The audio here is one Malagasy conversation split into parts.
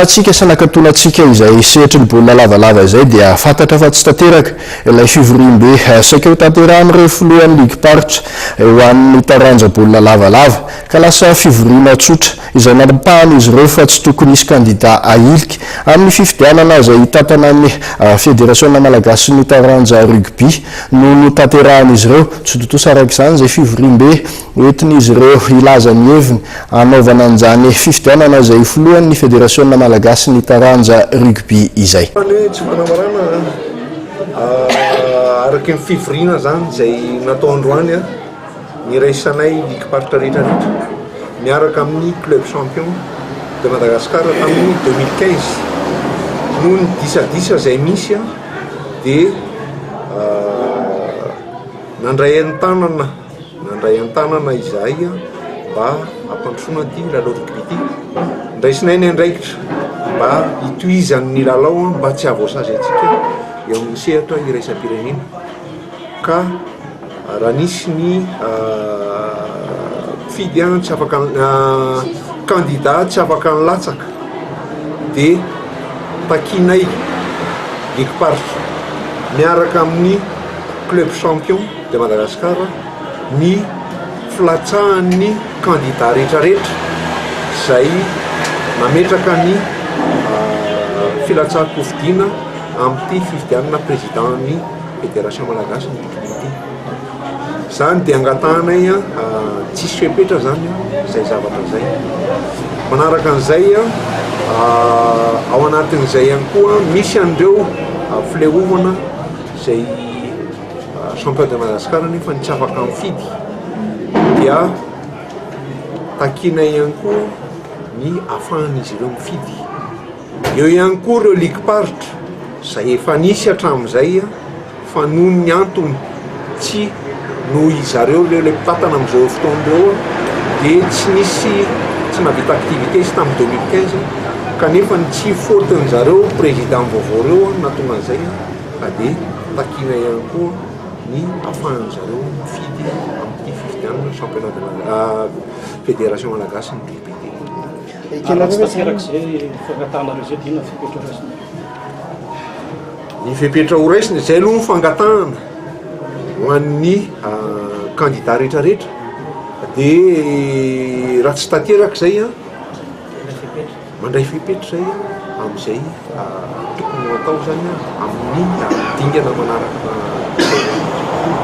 Antsika sy anakatonantsika izay sehatry ny baolina lavalava izay dia fantatra fa tsy tanteraka ilay fivoriambe saika ho tanterahin'ireo filohan'ny ligim-paritra ho an'ny taranja baolina lavalava ka lasa fivoriana tsotra izay nampahan'izy ireo fa tsy tokony hisy kandida ahilika amin'ny fifidianana izay hitantana ny federasiona malagasin'ny taranja rugby no notanterahin'izy ireo. Tsy tontosa araka izany izay fivoriambe Entin'izy ireo hilaza ny heviny hanaovana an'izany fifidianana izay ho filohan'ny Federasiona malagasin'ny taranja rugby izay. Fa ny hoe tsy fanambarana araky ny fivoriana izany izay natao androany niraisanay likim-paritra rehetra rehetra miaraka amin'ny club champion de Madagascar tamin'ny deux mille quinze. Noho ny disadisa izay misy dia nandray an-tanana. Nandray an-tanana izahay mba hampandrosoana ity lalao rugby ity. Ndraisinay ny andraikitra mba hitohizan'ny lalao mba tsy hahavoasazy antsika eo amin'ny sehatra iraisam-pirenena. Ka raha nisy ny mpifidy tsy afaka, kandida tsy afaka nilatsaka dia takianay ny ekiparitro miaraka amin'ny club champion. de Madagascar ny filatsahan'ny candidat retraretra zay nametraka ny filatsahan-kofidina amin'ity fifidianana président-n'ny federation malagasy ny tokony ity zany de angatahanay tsisy fepetra zany zay zavatra zay manaraka an'izay ao anatin'izay ihany koa misy an'ireo fileovana zay Champion de Madagascar nefa ny tsy afaka mifidy dia takiana ihany koa ny afahan'izy ireo mifidy. Eo ihany koa ireo ligom-paritra izay efa nisy hatramin'izay fa noho ny antony tsy noho izy ireo ireo ilay mpitantana amin'izao fotoana ireo dia tsy nisy tsy nahavita activité izy tamin'ny 2015 kanefa ny tsy faute-n'izy ireo président vaovao ireo no nahatonga an'izay. fa dia takiana ihany koa ny afahan'ny zareo mifidy amin'ity fifidianana championnat de fédération malagasy ny DPT. Ary tsy tanterak'izay fangatahanareo izay dia inona ny fepetra ho raisina? Ny fepetra ho raisina, izay aloha ny fangatahana ho an'ny kandida rehetrarehetra dia raha tsy tanteraka izay an, Mandray fepetra izay amin'izay tokony ho atao izany amin'ny dingana manaraka izao.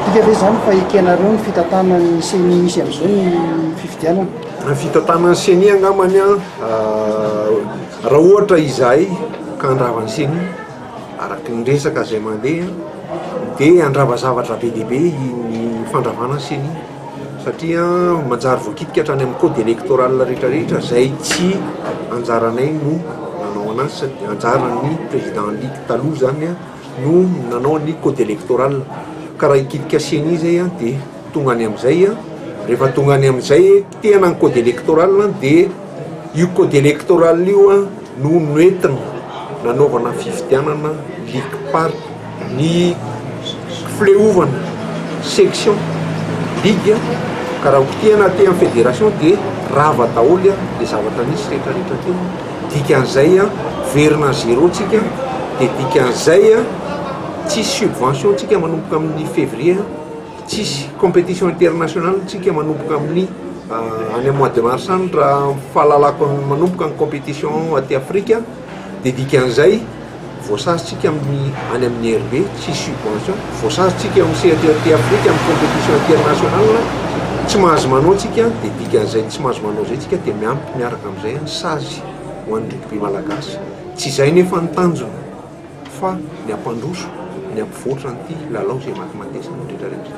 Midika ve izany fa ekenareo ny fitantanan'ny ceni misy amin'izao ny fifidianana? Ny fitantanan'ny ceni angambany raha ohatra izahay ka handrava ny ceni araka ny resaka izay mandeha dia handrava zavatra be dia be ny fandravana ny ceni. satria manjary voakitika hatrany amin'ny code électoral rehetra rehetra izay tsy anjaranay no nanao anazy sady anjaran'ny président Ly taloha zany no nanao ny code électoral ka raha hikitika ceni zay dia tonga any amin'izay rehefa tonga any amin'izay kitihana ny code électoral dia io code électoral io no noentina nanaovana fifidianana ligim-paritra, ny fileovana section, ligue, ka raha hotehina aty amin'ny fédération dia rava daholo ilay zavatra nisy rehetrarehetra teo, dikan'izay miverina à zéro tsika, dia dikan'izay tsisy subvention tsika manomboka amin'ny février. Tsisy competition international ntsika manomboka amin'ny any am mois de mars any raha ny fahalalako ny manomboka ny competition aty afrika de dikan'izay voasazy tsika amin'ny any amin'ny RB tsisy subvention voasazy tsika eo amin'ny sehatra aty afrika amin'ny competition international tsy mahazo manao tsika de dikan'izay tsy mahazo manao zay tsika de miampy miaraka am'izay ny sazy ho an'ny rugby malagasy tsy zay nefa ny tanjona fa ny hampandroso, ny hampivoatra an'ity lalao izay matimatesana rehetra rehetra.